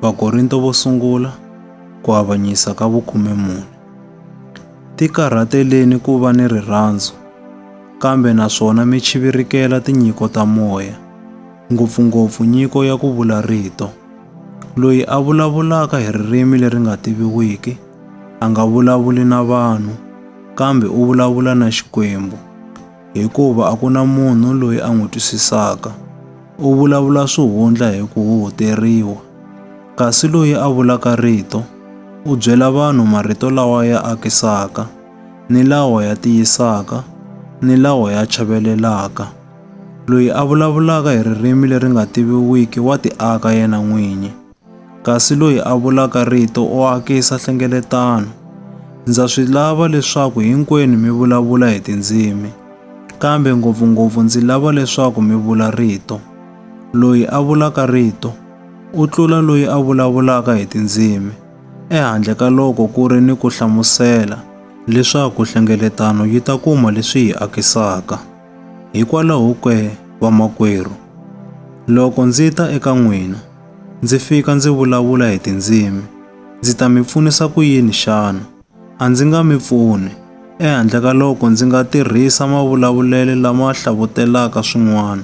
Vakorinto vo sungula ku avanyisa ka vukhume mune. Tikarhateleni ku va ni rirhandzu, kambe naswona mi chivirikela tinyiko ta moya, ngopfungopfu nyiko ya ku vula rito. Loyi a vulavulaka hi ririmi leri nga tiviwiki a nga vulavuli na vanhu, kambe u vulavula na Xikwembu. hikuva a ku na munhu loyi a n'wi twisisaka. U vulavula swihundla hi ku huhuteriwa, kasi loyi a vulaka rito u byela vanhu marito lawa ya akisaka, ni lawa ya tiyisaka, ni lawa ya chavelelaka. Loyi a vulavulaka hi ririmi leri nga tiviwiki wa tiaka yena n'winyi. kasi loyi a vulaka rito u akisa hlengeletano. Ndza swi lava leswaku hinkwenu mi vulavula hi tindzimi, kambe ngopfungopfu ndzi lava leswaku mi vula rito. Loyi a vulaka rito u tlula loyi a vulavulaka hi tindzimi, ehandle ka loko ku ri ni ku hlamusela, leswaku hlengeletano yi ta kuma leswi yi akisaka. Hikwalaho ke, vamakwerhu, loko ndzi ta eka n'wina, Ndzi fika ndzi vulavula hi tindzimi. Ndzi ta mi pfunisa ku yini xana? A ndzi nga mi pfuni, ehandle ka loko ndzi nga tirhisa mavulavulele lama hlavutelaka swin'wana,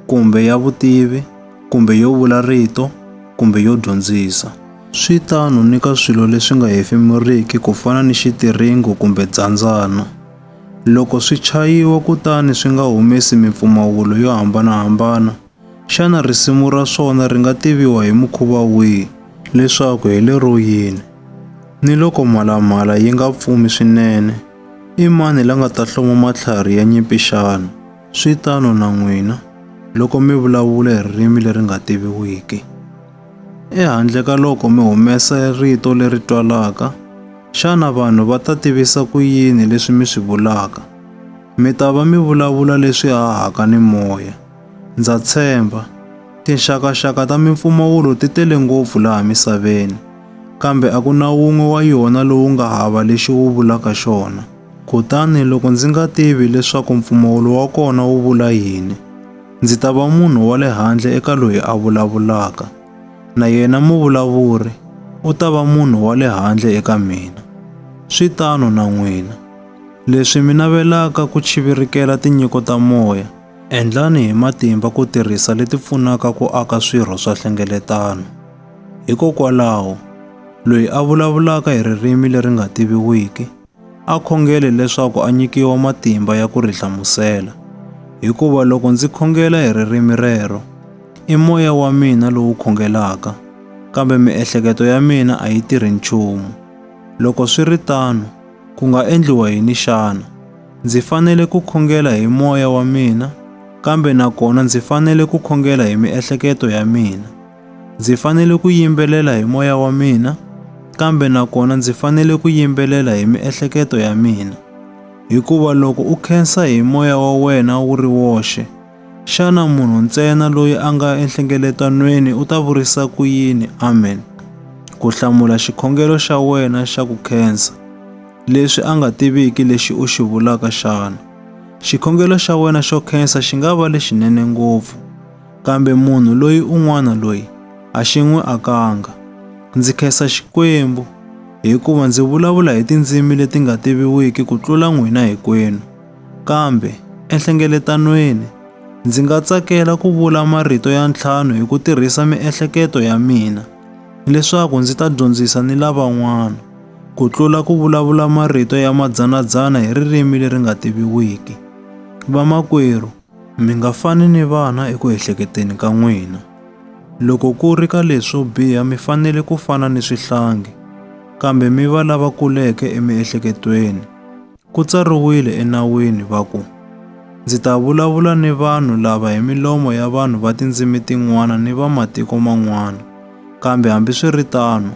kumbe ya vutivi, kumbe yo vula rito, kumbe yo dyondzisa. Swi tano ni ka swilo leswi nga hefemuriki ku fana ni xitiringo kumbe dzandzana. Loko swi chayiwa kutani swi nga humesi mimpfumawulo yo hambana-hambana, Xana risimu ra swona ri nga tiviwa hi mukhuva wihi leswaku hi lero yini? Ni loko mhalamhala yi nga pfumi swinene, i mani la nga ta hloma matlhari ya nyimpi xana? Swi tano na n'wina, loko mi vulavula hi ririmi leri nga tiviwiki. Ehandle ka loko mi humesa rito leri twalaka, xana vanhu va ta tivisa ku yini leswi mi swi vulaka? Mi ta va mi vulavula leswi hahaka ni moya. Ndza tshemba. Tinxakaxaka ta mimpfumawulo ti tele ngopfu laha misaveni, kambe a ku na wun'we wa yona lowu nga hava lexi wu vulaka xona. Kutani loko ndzi nga tivi leswaku mpfumawulo wa kona wu vula yini, ndzi ta va munhu wa le handle eka loyi a vulavulaka, na yena muvulavuri u ta va munhu wa le handle eka mina. Swi tano na n'wina. Leswi mi navelaka ku chivirikela tinyiko ta moya, Endlani hi matimba ku tirhisa leti pfunaka ku aka swirho swa hlengeletano. Hikokwalaho, loyi a vulavulaka hi ririmi leri nga tiviwiki a khongele leswaku a nyikiwa matimba ya ku ri hlamusela, hikuva loko ndzi khongela hi ririmi rero, i moya wa mina lowu khongelaka, kambe miehleketo ya mina a yi tirhi nchumu. Loko swi ri tano, ku nga endliwa yini xana? Ndzi fanele ku khongela hi moya wa mina, kambe nakona ndzi fanele ku khongela hi miehleketo ya mina. Ndzi fanele ku yimbelela hi moya wa mina, kambe nakona ndzi fanele ku yimbelela hi miehleketo ya mina. Hikuva loko u khensa hi moya wa wena wu ri woxe, xana munhu ntsena loyi a nga enhlengeletanweni u ta vurisa ku yini amen ku hlamula xikhongelo xa wena xa ku khensa? leswi a nga tiviki lexi u xi vulaka xana. Xikhongelo xa wena xo khensa xi nga va lexinene ngopfu, kambe munhu loyi un'wana loyi a xi n'wi akanga. Ndzi khensa Xikwembu hikuva ndzi vulavula hi tindzimi leti nga tiviwiki ku tlula n'wina hinkwenu. Kambe enhlengeletanweni, ndzi nga tsakela ku vula marito ya ntlhanu hi ku tirhisa miehleketo ya mina leswaku ndzi ta dyondzisa ni lavan'wana. ku tlula ku vulavula marito ya madzanadzana hi ririmi leri nga tiviwiki. Vamakwerhu, mi nga fani ni vana eku ehleketeni ka n'wina. Loko ku ri ka leswo biha mi fanele ku fana ni swihlangi, kambe mi va lava kuleke emiehleketweni. Ku tsariwile enawini va ku, Ndzi ta vulavula ni vanhu lava hi milomo ya vanhu va tindzimi tin'wana ni va matiko man'wana, kambe hambiswiritano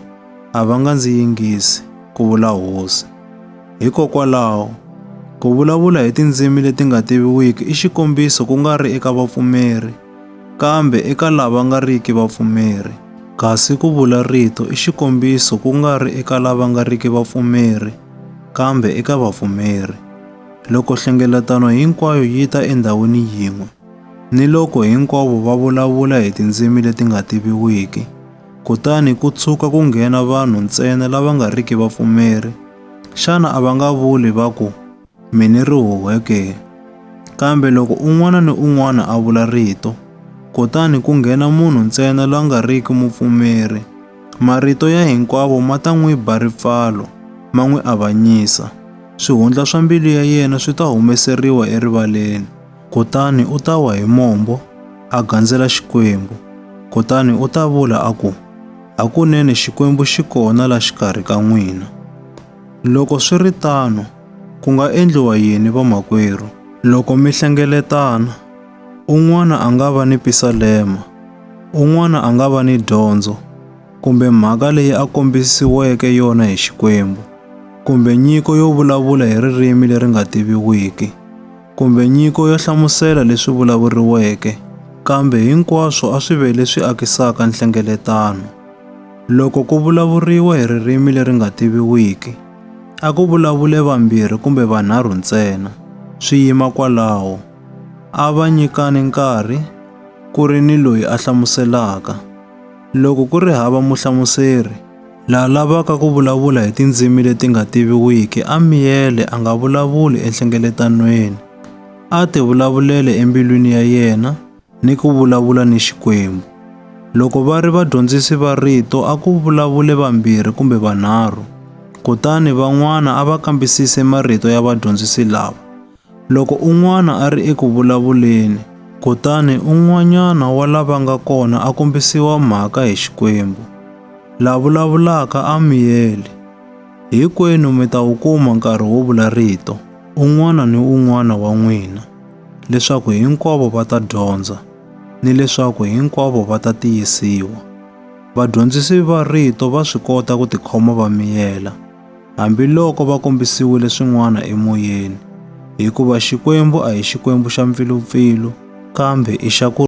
a va nga ndzi yingisi, ku vula Hosi. Hikokwalaho, ku vulavula hi tindzimi leti nga tiviwiki i xikombiso ku nga ri eka vapfumeri, Kambe eka lava nga riki vapfumeri, kasi ku vula rito i xikombiso ku nga ri eka lava nga riki vapfumeri, kambe eka vapfumeri. Loko nhlengeletano hinkwayo yi ta endhawini yin'we, ni loko hinkwavo va vulavula hi tindzimi leti nga tiviwiki, kutani ku tshuka ku nghena vanhu ntsena lava nga riki vapfumeri, xana a va nga vuli va ku, mi ni rihuhe ke? Kambe loko un'wana ni un'wana a vula rito, kutani ku nghena munhu ntsena la nga riki mupfumeri, marito ya hinkwavo ma ta n'wi ba ripfalo, ma n'wi avanyisa. Swihundla swa mbilu ya yena swi ta humeseriwa erivaleni, kutani u ta wa hi mombo, a gandzela Xikwembu. Kutani u ta vula a ku, Hakunene Xikwembu xi kona la xikarhi ka n'wina. Loko swi ri tano, ku nga endliwa yini vamakwerhu? Loko mi hlengeletana, un'wana a nga va ni pisalema, un'wana a nga va ni dyondzo, kumbe mhaka leyi a kombisiweke yona hi Xikwembu, kumbe nyiko yo vulavula hi ririmi leri nga tiviwiki, kumbe nyiko yo hlamusela leswi vulavuriweke, kambe hinkwaswo a swi ve leswi akisaka nhlengeletano. Loko ku vulavuriwa hi ririmi leri nga tiviwiki, a ku vulavule vambirhi kumbe vanharhu ntsena, swi yima kwalaho. A va nyikani nkarhi, ku ri ni loyi a hlamuselaka. Loko ku ri hava muhlamuseri, la lavaka ku vulavula hi tindzimi leti nga tiviwiki a miyele a nga vulavuli enhlengeletanweni, a tivulavulele embilwini ya yena, ni ku vulavula ni Xikwembu. Loko va ri vadyondzisi va rito a ku vulavule vambirhi kumbe vanharhu, kutani van'wana a va kambisise marito ya vadyondzisi lava. Loko un'wana a ri eku vulavuleni, kutani un'wanyana wa lava nga kona a kombisiwa mhaka hi Xikwembu. La vulavulaka a miyele, Hinkwenu mi ta wu kuma nkarhi wo vula rito, un'wana ni un'wana wa n'wina. leswaku hinkwavo va ta dyondza ni leswaku hinkwavo va ta tiyisiwa. Vadyondzisi va rito va swi kota ku tikhoma va miyela, hambiloko va kombisiwile swin'wana emoyeni, hikuva Xikwembu a hi Xikwembu xa mpfilupfilu kambe i xa ku